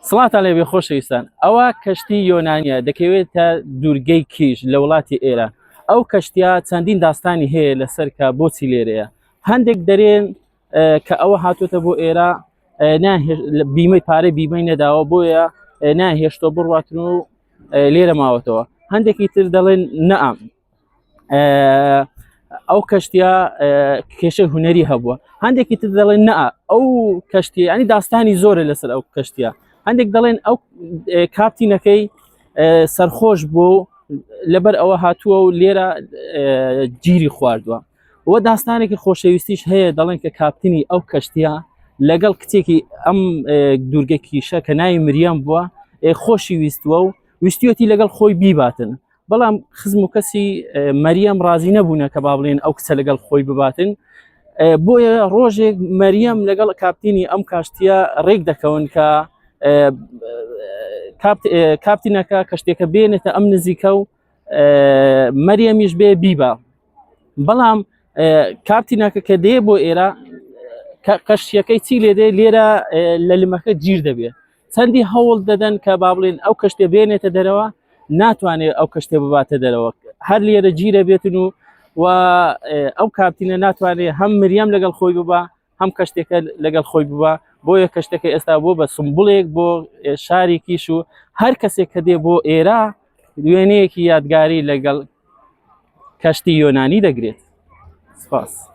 سڵاتان لێ بێ خۆشەویستان ئەوە کەشتی یۆنانیە دەکەوێت تا دوورگەی کیش لە وڵاتی ئێرە ئەو کەشتیا چەندین داستانی هەیە لەسەر کە بۆچی لێرەیە هەندێک دەرێن کە ئەوە هاتوتە بۆ ئێرە بیمەی پارەی بیمەی نەداوە بۆیە ناهێشتۆ بڕاتن و لێرە ماوەتەوە هەندێکی تر دەڵێن نەام ئەو کەشتە کێشە هوەری هەبووە هەندێکی تر دەڵێن نە ئەو کەشتی ئەنی داستانی زۆرە لەسەر ئەو کەشتە هەندێک دەڵێن ئەو کاپتینەکەی سەرخۆش بوو لەبەر ئەوە هاتووە و لێرە گیری خواردووە و داستانێکی خۆشەویستیش هەیە دەڵێن کە کاپتنی ئەو کەشتە لەگەڵ کچێکی ئەم دوورگە کیشە کە ناوی مریەم بووە خۆشی ویستووە و ویستیەتی لەگەڵ خۆی بیباتن بەڵام خزم و کەسی مەریەم ڕازی نەبوونە کە با بڵێن ئەو کچە لەگەڵ خۆی بباتن بۆیە ڕۆژێک مەریەم لەگەڵ کاپتینی ئەم کاشتیە ڕێک دەکەون کە کاپتینەکە کەشتێکە بێنێتە ئەم نزیکە و مەریەمیش بێ بیبا بەڵام کاپتینەکە کە دێ بۆ ئێرە قەشتیەکەی چی لێ دێ لێرە لە لمەکە گیر دەبێت چەندی هەوڵ دەدەن کە با بڵێن ئەو کەشتێ بێنێتە دەرەوە ناتوانێت ئەو کەشتێ بباتە دەرەوە هەر لێرە گیرە بێتن و و ئەو کاپتینە ناتوانێت هەم مریەم لەگەڵ خۆی ببە هەم کەشتێکە لەگەڵ خۆی ببە بۆیە کەشتەکە ئێستا بۆ بە سمبڵێک بۆ شارێکیش و هەر کەسێک کە دێ بۆ ئێرە وێنەیەکی یادگاری لەگەڵ کەشتی یۆنانی دەگرێت سپاس.